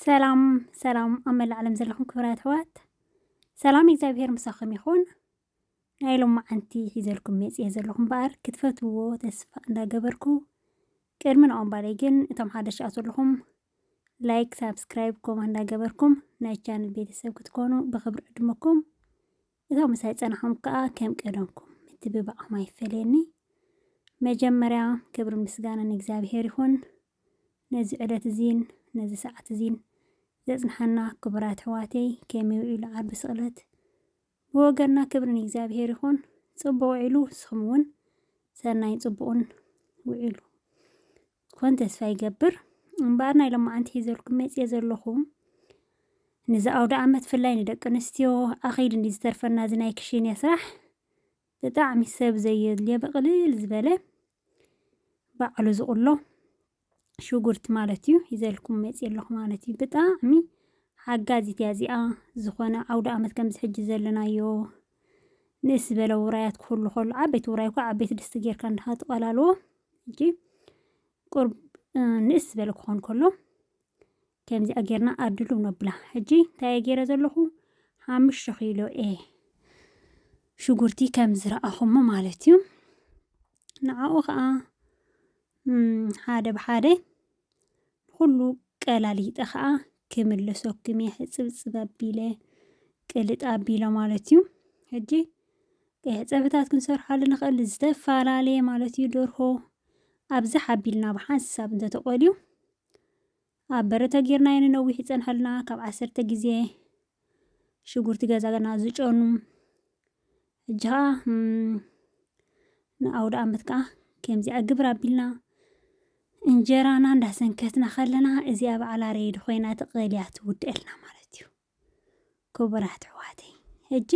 ሰላም ሰላም ኣብ መላእ ዓለም ዘለኹም ክብራት ኣሕዋት ሰላም እግዚኣብሄር ምሳኹም ይኹን። ናይ ሎም መዓንቲ ሒዘልኩም መፅየ ዘለኹ እምበኣር ክትፈትዎ ተስፋ እንዳገበርኩ ቅድሚ ንኣምባለይ ግን እቶም ሓደሽ ኣት ዘለኹም ላይክ፣ ሳብስክራይብ፣ ኮማ እንዳገበርኩም ናይ ቻነል ቤተሰብ ክትኮኑ ብክብሪ ዕድመኩም እቶም ምሳይ ፀናሖም ከዓ ከም ቀደምኩም ምትብባዕኹም ኣይፈለየኒ። መጀመርያ ክብሪ ምስጋና ንእግዚኣብሄር ይኹን። ነዚ ዕለት እዚን ነዚ ሰዓት እዚን ዘጽንሓና ክቡር ኣሕዋተይ ከመይ ውዒሉ ዓርቢ ስቕለት ብወገንና ክብሪ ንእግዚኣብሄር ይኹን ጽቡቕ ውዒሉ ንስኹም እውን ሰናይ ጽቡቕን ውዒሉ ኮን ተስፋ ይገብር እምበኣር ናይ ሎማዓንቲ ሒዘልኩም መጽየ ዘለኹ ንዚ ኣውደ ዓመት ፍላይ ንደቂ ኣንስትዮ ኣኺድ እንዲ ዝተርፈና እዚ ናይ ክሽንያ ስራሕ ብጣዕሚ ሰብ ዘየድልዮ ብቕልል ዝበለ ባዕሉ ዝቁሎ ሽጉርቲ ማለት እዩ ሂዘልኩም መፅየ ኣለኹ ማለት እዩ ብጣዕሚ ሓጋዚት እያ እዚኣ ዝኾነ ዓውደ ዓመት ከምዚ ሕጂ ዘለናዮ ንእስ ዝበለ ውራያት ክህሉ ከሎ ዓበይቲ ውራይ እኳ ዓበይቲ ድስቲ ጌርካ እንድኻ ትቐላልዎ ሕጂ ቁርብ ንእስ ዝበለ ክኾን ከሎ ከምዚኣ ጌርና ኣድሉ ነብላ። ሕጂ እንታይ እየ ጌረ ዘለኹ ሓሙሽተ ኪሎ እየ ሽጉርቲ ከም ዝረኣኹሞ ማለት እዩ። ንዓኡ ከዓ ሓደ ብሓደ ንኹሉ ቀላሊጠ ከዓ ክምለሰኩም እየ ሕፅብፅብ ኣቢለ ቅልጥ ኣቢለ ማለት እዩ ሕጂ ቀይሕ ፀብሕታት ክንሰርሓሉ ንኽእል ዝተፈላለየ ማለት እዩ ደርሆ ኣብዛ ሓቢልና ብሓንሳብ እንተተቆልዩ ኣብ በረ ተጌርናዮ ንነዊሕ ይጸንሐልና ካብ ዓሰርተ ግዜ ሽጉርቲ ገዛና ዝጨኑ ሕጂ ኸዓ ንኣውደ ኣመት ከዓ ከምዚኣ ግብር ኣቢልና እንጀራና እንዳሰንከትና ከለና እዚኣ በዓል ኣረይድ ኮይና ትቐልያ ትውድአልና ማለት እዩ ክቡራት ኣሕዋተይ ሕጂ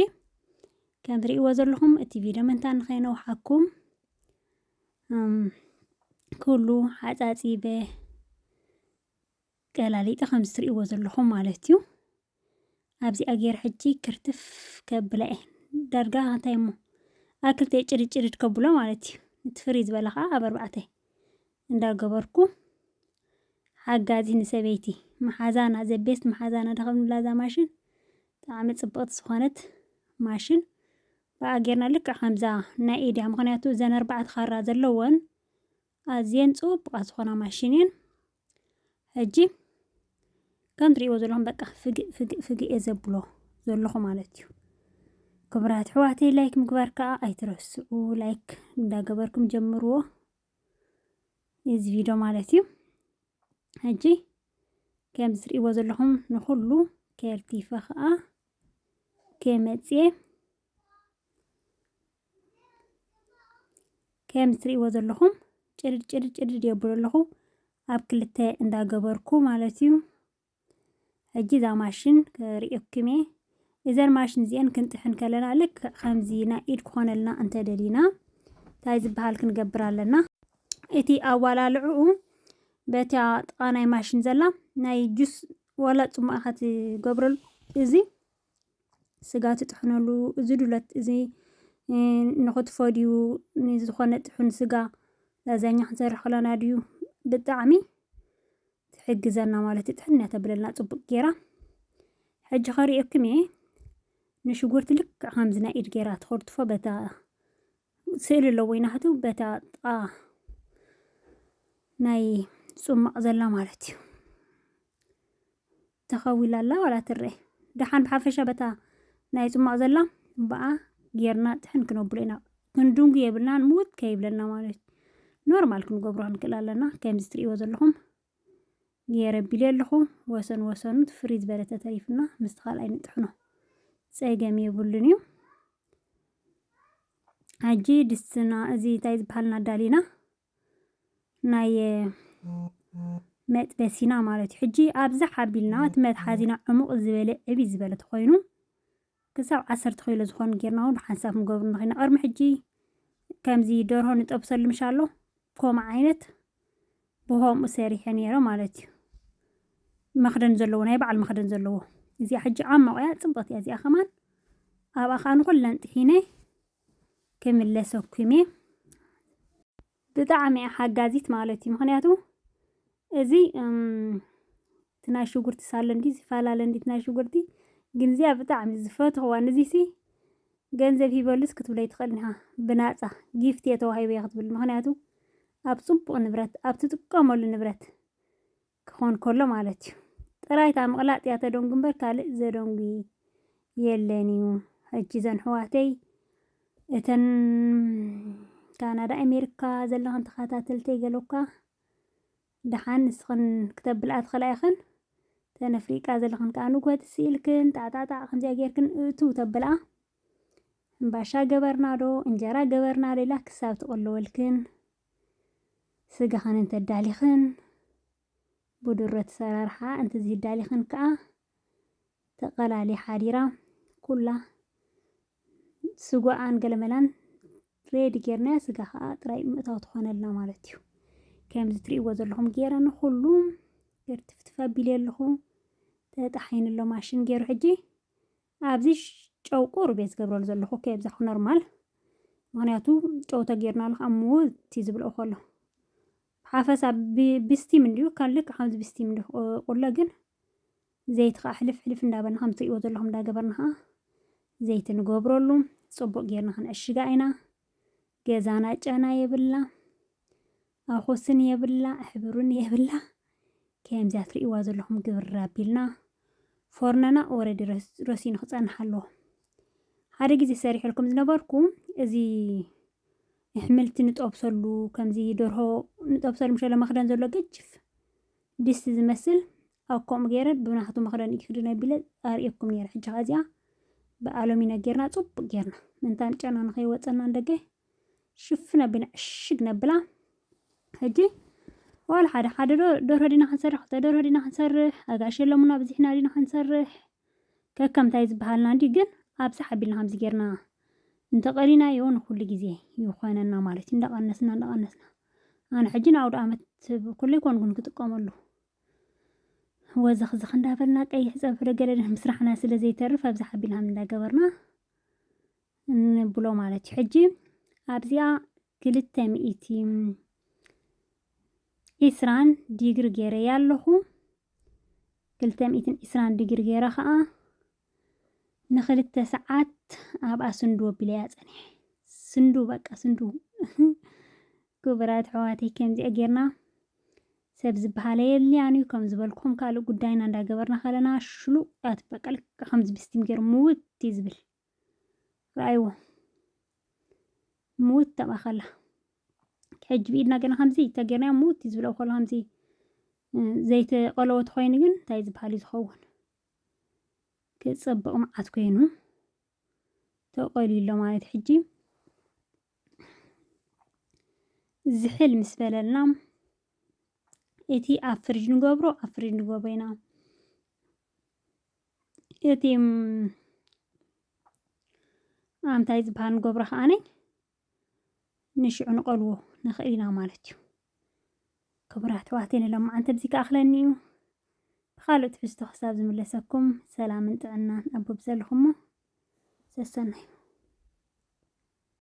ከም ትርእይዎ ዘለኹም እቲ ቪድዮ ምንታ ንኸይነውሓኩም ኩሉ ሓፃፂበ ቀላሊጠ ከምዚ ትርእይዎ ዘለኹም ማለት እዩ ኣብዚኣ ገይረ ሕጂ ክርትፍ ከብላ እየ ዳርጋ እንታይ እሞ ኣብ ክልተ ጭርጭርድ ከብሎ ማለት እዩ እቲ ፍርይ ዝበለ ከዓ ኣብ ኣርባዕተ እንዳገበርኩ ሓጋዚ ንሰበይቲ መሓዛና ዘቤስት መሓዛና ደኸምላ እዛ ማሽን ብጣዕሚ ጽብቕቲ ዝኾነት ማሽን ብኣ ጌርና ልክዕ ከምዛ ናይ ኢድያ ምክንያቱ እዘን ኣርባዕተ ካራ ዘለወን ኣዝየን ጽቡቓት ዝኾና ማሽን እየን ሕጂ ከም ትሪእዎ ዘለኹም በቃ ፍግእ ፍግእ ፍግእ እየ ዘብሎ ዘለኹ ማለት እዩ ክብራት ኣሕዋተይ ላይክ ምግባር ከዓ ኣይትረስዑ ላይክ እንዳገበርኩም ጀምርዎ እዚ ቪድዮ ማለት እዩ ሕጂ ከም ዝትርእይዎ ዘለኹም ንኹሉ ከርቲፈ ከዓ ከመፅየ ከም ዝትርእይዎ ዘለኹም ጭድድ ጭድድ ጭድድ የብሎ ኣለኹ ኣብ ክልተ እንዳገበርኩ ማለት እዩ ሕጂ እዛ ማሽን ክርእየኩምየ እዘን ማሽን እዚአን ክንጥሕን ከለና ልክዕ ከምዚ ናይ ኢድ ክኾነልና እንተደሊና እንታይ ዝበሃል ክንገብር ኣለና እቲ ኣዋላልዕኡ በታ ጥቃ ናይ ማሽን ዘላ ናይ ጁስ ዋላ ጽማእ ኢኻ ትገብረሉ እዚ ስጋ ትጥሕነሉ እዚ ዱለት እዚ ንኽትፎ ድዩ ንዝኾነ ጥሑን ስጋ ላዛኛ ክንሰርሕ ከለና ድዩ ብጣዕሚ ትሕግዘና ማለት እዩ ጥሕንያ ተብለልና ጽቡቅ ጌራ ሕጂ ከርእየኩም እየ ንሽጉርቲ ልክዕ ከምዚ ናይ ኢድ ጌራ ትኸርትፎ በታ ስእሊ ኣለዎ ይናህቱ በታ ጥቃ ናይ ጽማቕ ዘላ ማለት እዩ ተኸዊላ ኣላ ዋላ ትረኤ ደሓን ብሓፈሻ በታ ናይ ጽሟቕ ዘላ ብኣ ጌርና ጥሕን ክነብሎ ኢና ክንድንጉ የብልናን ምውት ከይብለና ማለት እዩ ኖርማል ክንገብሮ ክንክእል ኣለና ከምዚ ትርእይዎ ዘለኹም ገይረ ቢለ ኣለኹ ወሰን ወሰኑ ፍሪ ዝበለ ተተሪፍና ምስቲ ካልኣይ ንጥሕኖ ጸገም የብሉን እዩ ሕጂ ድስትና እዚ እንታይ ዝበሃልና ዳሊና ናይ መጥበሲና ማለት እዩ ሕጂ ኣብዚ ሓቢልና እቲ መትሓዚና ዕሙቕ ዝበለ ዕቢ ዝበለ ተኾይኑ ክሳብ ዓሰርተ ኪሎ ዝኾኑ ጌርና እውን ብሓንሳብ ክንገብሩ ንኽእል ኢና ቅድሚ ሕጂ ከምዚ ደርሆ ንጠብሰሉ ምሻ ኣሎ ከምኡ ዓይነት ብከምኡ ሰሪሐ ነይረ ማለት እዩ መኽደን ዘለዎ ናይ በዓል መኽደን ዘለዎ እዚኣ ሕጂ ዓሞቕ እያ ፅብቕቲ እያ እዚኣ ከማን ኣብኣ ከዓ ንኹለን ጥሒነ ክምለሰኩም እየ። ብጣዕሚ እያ ሓጋዚት ማለት እዩ። ምክንያቱ እዚ እቲ ናይ ሽጉርቲ ሳሎ እንዲ ዝፈላለ እንዲ ናይ ሽጉርቲ ግን እዚኣ ብጣዕሚ ዝፈትኽዋ ንዚሲ ገንዘብ ሂበሉስ ክትብለይ ትኽእል ኢኻ ብናፃ ጊፍት እየ ተዋሂበ ክትብል ምክንያቱ ኣብ ፅቡቕ ንብረት ኣብ ትጥቀመሉ ንብረት ክኾን ከሎ ማለት እዩ። ጥራይ እታ ምቕላጥ እያ ተደንጉ እምበር ካልእ ዘደንጉ የለን እዩ። ሕጂ እዘን ኣሕዋተይ እተን ካናዳ ኣሜሪካ ዘለኽን ተኸታተልተይ ገለኳ ደሓን ንስኽን ክተብልኣ ትኽእላ ኢኽን ተነፍሪቃ ዘለኽን ከዓ ንጎት ስኢልክን ጣዕጣዕጣዕ ከምዚያ ጌርክን እእትው ተብልኣ እምባሻ ገበርና ዶ እንጀራ ገበርና ሌላ ክሳብ ትቕልወልክን ስጋኽን እንተ ኣዳሊኽን ብድሩት ኣሰራርሓ እንተዘይኣዳሊኽን ከኣ ተቐላልያ ሓዲራ ኩላ ስጉኣን ገለመላን ሬዲ ጌርናያ ስጋ ከኣ ጥራይ ምእታው ትኾነልና ማለት እዩ። ከምዚ ትርእይዎ ዘለኹም ጌረ ንኹሉ ገርትፍትፍ ኣቢለ ኣለኹ ተጣሒኑ ኣሎ ማሽን ጌሩ ሕጂ ኣብዚ ጨው ቁሩብ እየ ዝገብረሉ ዘለኹ ኦኬ ብዛዕባ ኖርማል ምክንያቱ ጨው ተጌርናሉ ከዓ እሞ እቲ ዝብልኦ ከሎ ሓፈሳ ብስቲም እንዲዩ ካብ ልክ ከምዚ ብስቲም እንዲ ቁለ ግን ዘይቲ ከዓ ሕልፍ ሕልፍ እንዳበልና ከም ትሪእዎ ዘለኹም እንዳገበርና ከዓ ዘይቲ ንገብረሉ ፅቡቅ ጌርና ክንዕሽጋ ኢና ገዛና ጨና የብላ ኣኾስን የብላ ሕብርን የብላ ከምዚኣ ትርእይዋ ዘለኹም ግብርር ኣቢልና ፎርነና ኦረዲ ረሲኑ ክጸንሕ ኣለዎ ሓደ ግዜ ሰሪሐልኩም ዝነበርኩ እዚ ንሕምልቲ ንጠብሰሉ ከምዚ ደርሆ ንጠብሰሉ ምሸለ መኽደን ዘሎ ገጅፍ ድስቲ ዝመስል ኣብ ከምኡ ገይረ ብናቱ መኽደን እዩ ክድነ ቢለ ኣርእየኩም ነይረ ሕጂ ከዚኣ ብኣሎሚኖ ጌርና ጽቡቅ ጌርና ምንታ ጨና ንኸይወፀና ንደገ ሽፍን ኣቢልና ዕሽግ ነብላ ሕጂ ዋላ ሓደ ሓደ ዶ ደርሆ ዲና ክንሰርሕ ክልተ ደርሆ ዲና ክንሰርሕ ኣጋእሽ የሎምና ብዚሕና ዲና ክንሰርሕ ከከም እንታይ ዝበሃልና እንዲ ግን ኣብዝሕ ኣቢልና ከምዚ ጌርና እንተቐሊናዮ ንኩሉ ግዜ ይኾነና ማለት እዩ እንዳቐነስና እንዳቐነስና ኣነ ሕጂ ንኣውደ ኣመት ኩለይ ኮንጉን ክጥቀመሉ ወዘኽዝኽ እንዳበልና ቀይሕ ፀብሒ ዶ ገለ ምስራሕና ስለ ዘይተርፍ ኣብዝሕ ኣቢልና እንዳገበርና ንብሎ ማለት እዩ ሕጂ ኣብዚኣ ክልተ ሚእቲ ኢስራን ዲግሪ ገይረያ ኣለኹ ክልተ ሚእትን ኢስራን ዲግሪ ገይረ ከዓ ንክልተ ሰዓት ኣብኣ ስንዱ ኣቢለያ ፀኒሐ ስንዱ በቃ ስንዱ ክቡራት ኣሕዋተይ ከምዚኣ ጌርና ሰብ ዝበሃለ የልያን እዩ ከም ዝበልኩም ካልእ ጉዳይና እንዳገበርና ከለና ሽሉቃት በቃ ልክ ከምዚ ብስቲም ገይሩ ምውት እዩ ዝብል ረኣይዎ ምውት ተብኣ ከላ ሕጂ ብኢድና ገና ከምዚ ተገርናዮ ምውት እዩ ዝብለው ከሎ ከምዚ ዘይተቐለወት ኮይኑ ግን እንታይ ዝበሃል እዩ ዝኸውን ክፀብቕ መዓት ኮይኑ ተቐልዩ ኣሎ ማለት ሕጂ ዝሕል ምስ በለልና እቲ ኣብ ፍርጅ ንገብሮ ኣብ ፍርጅ ንገብሮ ኢና እቲ ኣንታይ ዝበሃል ንገብሮ ከኣኒ ንሽዑ ንቐልቦ ንኽእል ኢና ማለት እዩ። ክቡራት ኣሕዋተይ ንሎምዓንቲ ኣብዚ ክኣኽለኒ እዩ። ብኻልእ ትሕዝቶ ክሳብ ዝምለሰኩም ሰላምን ጥዕናን ኣብ በብዘለኹሞ ሰሰናዩ